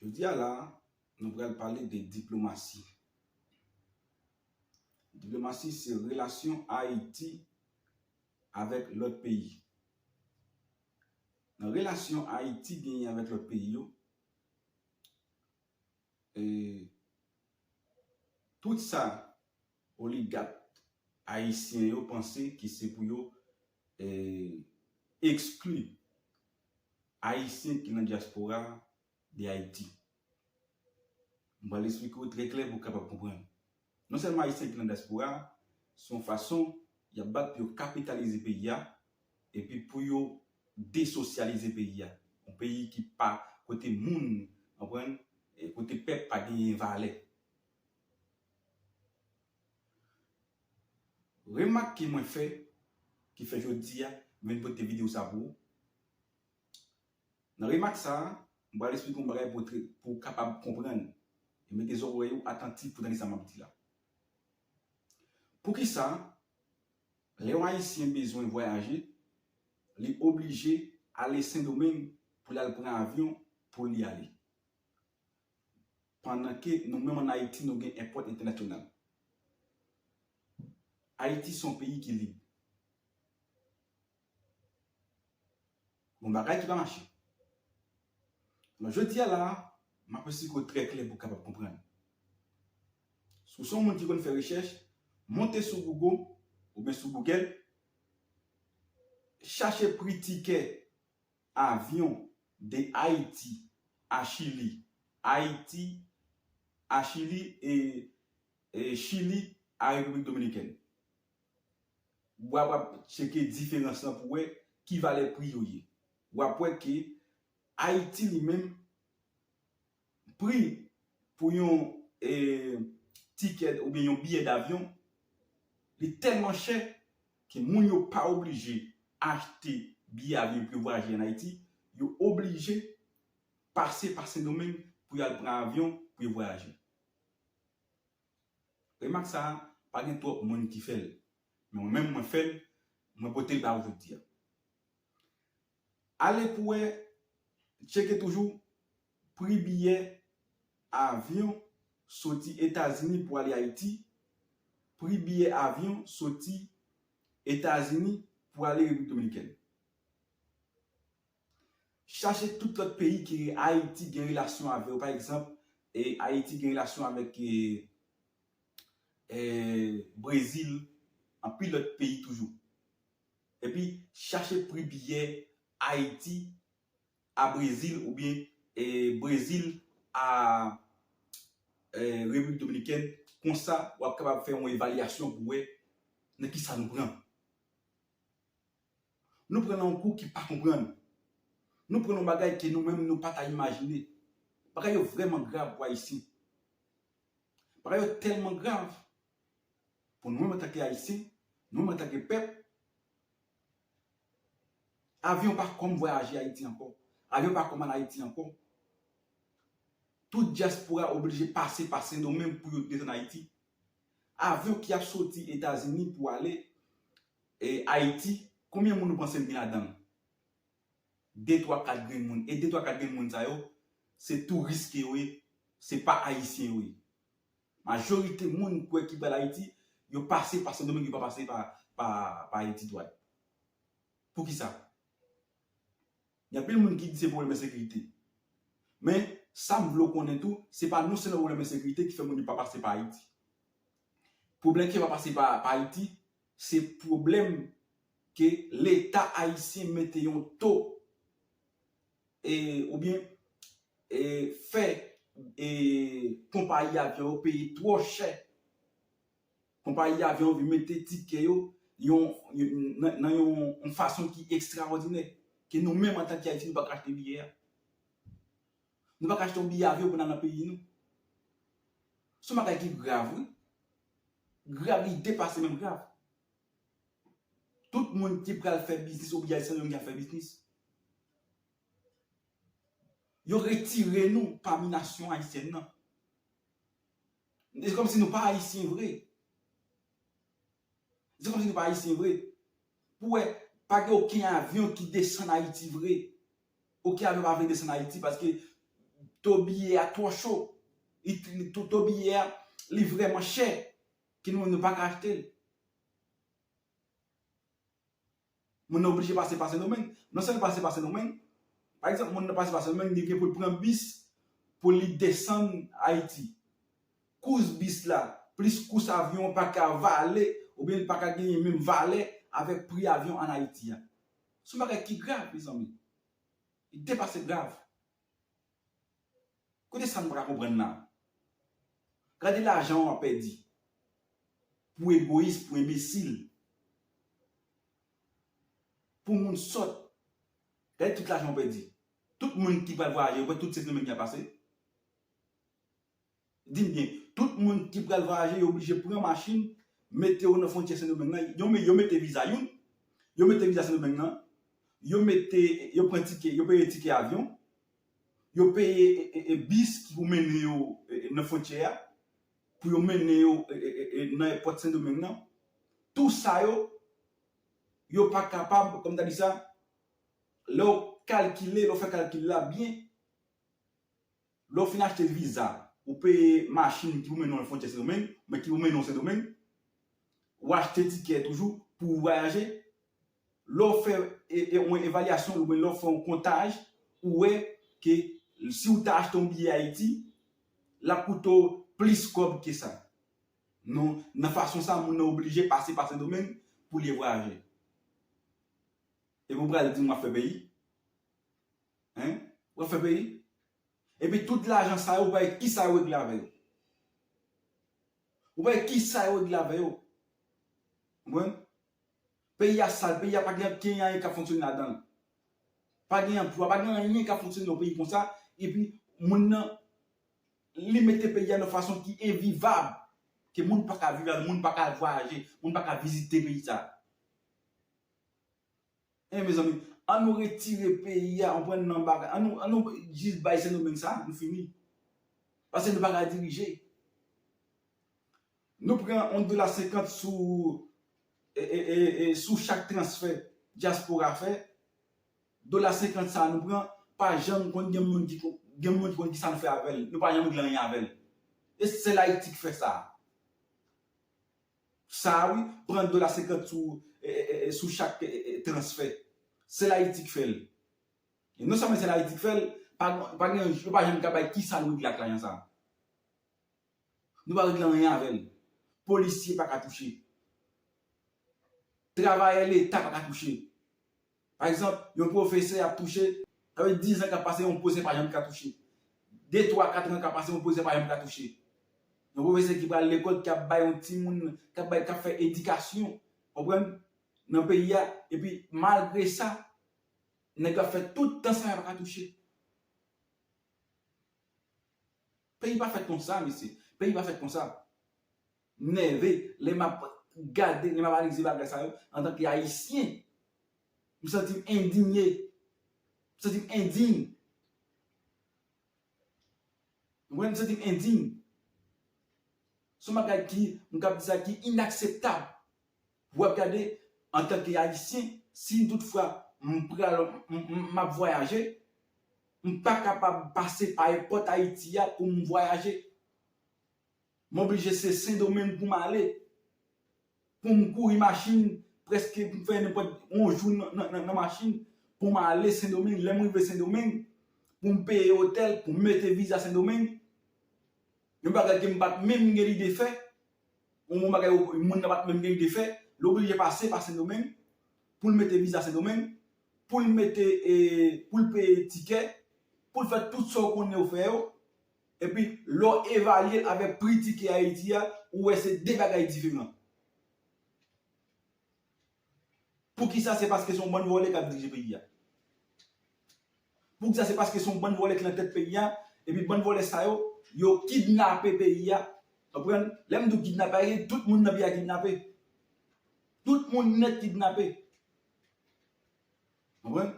Jodi a la, nou pral pale de diplomasi. Diplomasi se relasyon Ayiti avèk lòt peyi. Nan relasyon Ayiti genyen avèk lòt peyi yo, Tout sa oligat ayisyen yo panse ki se pou yo ekskli ayisyen ki nan dyaspora de Ayiti. M pral esplike w trè klè pou w kapab konprann. Non sèlman Ayisyen ki nan dyaspora a, se yon fason y ap bat pou yo kapitalize peyi a, epi pou yo desosyalize peyi a. Yon peyi ki pa, kote moun, konprann, kote pèp pa genyen valè. Remak ke mwen fè, ki fè jodi a, mwen vin pote videyo sa pou ou, Nan remak sa a, m pral esplike yon bagay pou trè pou w kapab konprann, e mete zòrèy ou atantif pou w tande sa m ap di la. Poukisa, lè yon Ayisyen bezwen vwayaje, li oblije ale Sendomeng pou l al pran avyon pou li ale, pandan ke nou menm ann Ayiti nou gen èpòt entènasyonal? Ayiti se yon peyi ki lib. Bon bagay ki pa mache. Alò jodi a la a, m ap esplike w trè klè pou w kapab konprann. Si w se yon moun ki konn fè rechèch, monte sou Google oubyen sou Google, chache pri tikè avyon de Ayiti a Chili, Ayiti a Chili e Chili a Repiblik Dominikèn. wa wap cheke diferans lan pou wè ki valè pri yo ye. Wap wè ke Ayiti li menm pri pou yon ticket oubyen yon biyè davyon li tèlman chè ke moun yo pa oblije achte biyè avyon pou yo vwayaje an Ayiti, yo oblije pase pa Sendomeng pou yo al pran avyon pou yo vwayaje. Remak sa a, pa gen twòp moun ki fè l, men mwen menm mwen fè l, mwen pote l ba ou jodi a. Ale pou wè, tcheke toujou pri biyè avyon soti Etazini pou ale Ayiti, pri biyè avyon soti Etazini pou ale Repiblik Dominikèn. Chache tout lòt peyi ke Ayiti gen relasyon avè yo. Pa egzanp, Ayiti gen relasyon avèk Brezil, anpil lòt peyi toujou. Epi, chache pri biyè Ayiti a Brezil oubyen Brezil a Repiblik Dominikèn. Konsa, w ap kapab fè yon evalyasyon pou wè nan kisa nou pran. Nou pran nan yon kou ki pa konprann. Nou pran nan yon bagay ke nou menm nou pa ta imajine. Bagay yo vrèman grav pou Ayisyen. Bagay yo tèlman grav pou nou menm antake Ayisyen, nou menm antake pèp. Avyon pa kòm vwayaje Ayiti ankò. Avyon pa kòm al Ayiti ankò. Tout dyaspora oblije pase pa Sendomeng pou yo desann Ayiti. Avyon ki ap soti Etazini pou ale E Ayiti, konbyen moun ou panse l gen ladan l? De twa kat grenn moun. E de twa kat grenn moun sa yo, se touris ke yo ye, se pa Ayisyen yo ye. Majorite moun ou kwè ki pral Ayiti, yo pase pa Sendomeng, yo pa pase pa Ayiti dwat. Poukisa? Gen anpil moun ki di se pwoblèm ensekirite. Men, sa m vle w konnen tou, se pa non sèlman pwoblèm ensekirite ki fè moun yo pa pase pa Ayiti. Pwoblèm ke yo pa pase pa Ayiti, Se pwoblèm ke leta ayisyen mete yon to e oubyen e fè e konpayi avyon yo peye twò chè. Konpayi avyon yo vin mete tikè yo yon nan yon fason ki ekstraòdinè ke nou menm antanke Ayisyen nou pa ka achte biyè a. Nou pa ka achte yon biyè avyon pou n al nan peyi nou. Son bagay ki grav wi. Grav li depase menm grav. Tout moun ki pral fè biznis obligasyon yo gen fè biznis. Yo retire nou pami nasyon ayisyèn nan. Se kòm si nou pa ayisyen vre. Se kòm si nou pa ayisyen vre. Pou wè pa gen oken avyon ki desann ayiti vre. Ok avèw pa vle desann ayiti paske to biyè a twò cho to biyè a li vrèman chè ke nou menm nou paka achtel moun nan oblije pase pa sendomeng non sèl pase pa sendomeng pa egzanp moun nan pase pa sendomeng li gen poul pran bis pou li desann ayiti kous bis la plis kous avyon an paka vale oubyen li paka genyen menm valè avèk pri avyon an ayiti a. Se yon bagay ki grav mezanmi. Li depase grav. Kote sa nou pa ka konprann la? Gade lajan w ap pèdi pou egoyis, pou enbesil, pou moun sòt. Gade tout lajan w pèdi. Tout moun ki pral vwayaje, ou kwè tout se grenmenn y ap pase? Di m byen, tout moun ki pral vwayaje yo blije pran machin, mete yo nan fwontyè Sendomeng lan, yo yo mete viza youn, yo mete viza Sendomeng lan, yo mete, yo pran tike, yo peye tike avyon, yo peye bis ki pou mennen yo nan fwontyè a, pou yo mennen yo nan èpòt Sendomeng lan, tou sa yo, yo pa kapab, kòm ta di sa, lè w kalkile, lè w fè kalkil la byen, Lè w fin achte viza, ou peye machin ki pou mennen w al fwontyè Sendomeng, oubyen ki pou mennen w Sendomeng. Ou achte tikè toujou pou ou vwayaje. Lè w fè yon evalyasyon oubyen lè w fè yon kontaj, ou wè ke si w ta achte yon biyè Ayiti, l ap koute w plis kòb ke sa. Non, nan fason sa moun nan oblije pase pa Sendomeng pou li vwayaje. Epi w pral di m w ap fè peyi? Hein? Wap fè peyi? Epi tout lajan sa yo ou pale kisa yo regle avè yo? Ou pale kisa yo regle avè yo? Konprann? Peyi a sal, peyi a pa gen ankenyen anyen kap fonksyone ladan l. Pa gen anplwa, pa gen anyen kap fonksyone nan peyi konsa, epi moun nan li mete peyi a nan fason ki envivab, ke moun paka viv la, moun paka vwayaje, moun paka vizite peyi sa. Hein mezanmi an nou retire peyi a ou pran nan bagay an nou jis bay se nou menm sa nou fini pase nou paka dirije nou pran yon dola senkant sou ee sou chak transfè diaspora fè dola senkant sa nou pran pa janm konn gen moun ki konn gen moun ki konn kisa nou fè avèl nou pa janm regle anyen avèl e sèl ayiti ki fè sa sa a wi, pran dola 50 sou sou chak transfè. Sèl Ayiti k fè l. E non sèlman sèl Ayiti k fè l, pa gon pa gen yo pa janm ka bay kisa nou regle ak lajan sa a. Nou pa regle anyen avè l. Polisye pa ka touche. Travayè leta pa ka touche. Pa egzanp, yon pwofesè ap touche, sa vle di dizan k ap pase yon pwofesè pa janm ka touche. De, twa, katran k ap pase yon pwofesè pa janm ka touche. Yon pwofesè ki pral lekòl, ki ap bay yon timoun, k ap bay, k ap fè edikasyon, konprann, nan peyi a, epi malgre sa, nèg yo ap fè tout tan sa yo pa ka touche. Peyi pa fèt konsa mesye, peyi pa fèt konsa. M nève lè m ap gade, lè m ap analize bagay sa yo antanke Ayisyen. M santi m endinye. M santi m endiy. Mwen m santi m endiy. Se yon bagay ki, m kab di sa, ki inakseptab. Ou ap gade antanke Ayisyen, si m tout fwa m pral, m ap vwayaje, m pa kapab pase pa èpòt Ayiti a pou m vwayaje. M oblije se sendomeng pou m ale pou m kouri machin preske pou m fè nenpòt yon jou nan machin pou m ale sendomeng lè m rive sendomeng pou m peye otèl pou m mete viza sendomeng yon bagay ke m pa t menm gen lide fè yon bagay yon moun nan pa t menm gen lide fè l oblije pase pa sendomeng pou l mete viza sendomeng pou l mete pou l peye tikè pou l fè tout sa w konnen yo fè yo Epi, lè w evalye l avèk pri tikè Ayiti a, ou wè se de bagay diferan. Poukisa? Se paske se yon bann vòlè k ap dirije peyi a. Poukisa? Se paske se yon bann vòlè ki nan tèt peyi a, epi bann vòlè sa yo, yo kidnape peyi a. Ou konprann? Lè m di w kidnape, pa vle di tout moun nan peyi a kidnape. Tout moun nèt kidnape. Konprann?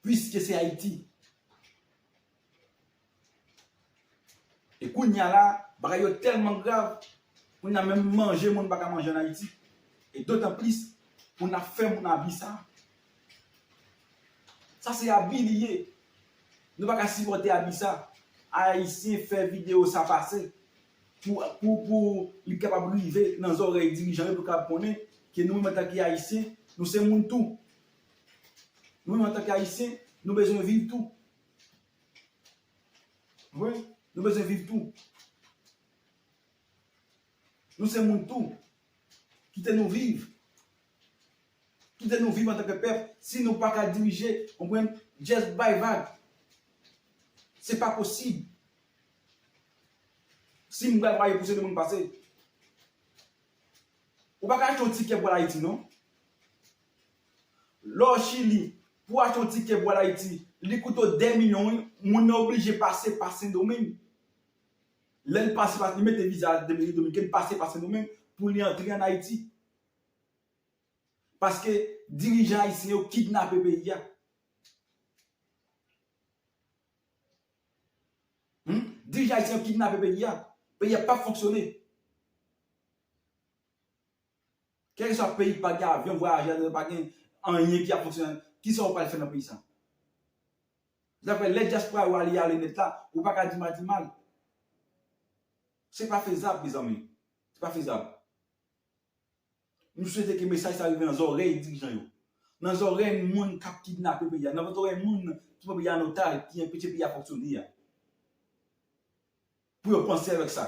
Puiske se Ayiti. E kounye a la, bagay yo tèlman grav, kounye a menm manje moun pa ka manje an Ayiti. E dotan plis, moun ap fè moun abi sa. Sa se abi li ye. Nou pa ka sipòte abi sa. Ayisyen fè videyo sa pase. pou li kapab rive nan zòrèy dirijan yo pou yo kapab konnen ke nou menm antanke Ayisyen, nou se moun tou. Nou menm antanke Ayisyen, nou bezwen viv tou. Konprann? Nou bezwen viv tou. Nou se moun tou. Kite nou viv. Kite nou viv antanke pèp. Si nou pa ka dirije, konprann, just bay vag. Se pa posib. Si m pral pale pou se de moun pase. Ou pa ka achte yon tikè pou al Ayiti non. Lè w Chili, pou w achte yon tikè pou al Ayiti, li koute w 2 milyon wi. Moun nan oblije pase pa Sendomeng. Lè l pase pa, li mete viza a Repiblik Dominikèn, pase pa Sendomeng pou li antre an Ayiti. Paske dirijan ayisyen yo kidnape peyi a. Humm dirije ayiti ap kidnape peyi a peyi a pap fonksyone kelkeswa peyi ki pa gen avyon vwayaje ladanl pa gen anyen ki ap fonksyone ladanl kisa ou pral fè nan peyi sa daprè lè dyaspora yo ale ale nèt la ou paka di madimal se pa fezab mezanmi se pa fezab. Nou swete ke mesaj sa rive nan zòrèy dirijan yo, nan zòrèy moun kap kidnape peyi a, nan zòrèy moun ki pran peyi a an otaj, ki enpeche peyi a fonksyone a. Pou yo panse avèk sa.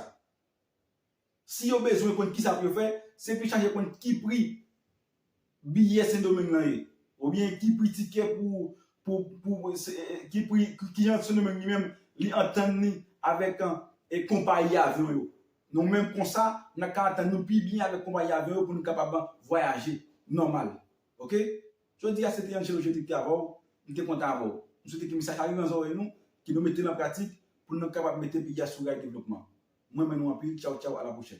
Si yo bezwen konn kisa pou yo fè, se pou yo chache konn ki pri Biye sendomeng lan ye? Ou byen ki pri tikè pou pou ki pri ki jan sendomeng li menm li antann li avèk konpayi avyon yo? Nou menm konsa nan ka antann nou pi byen avèk konpayi avyon yo pou nou kapab vwayaje nòmal ok. Jodi a se te Angelo Jeudi ki te avè w, m te kontan avè w. M swete ke mesaj sa rive nan zòrèy nou, ke nou mete l an pratik pou nou kapab mete peyi a sou ray devlopman. M renmen nou anpil, tchawtchaw a la pwochèn.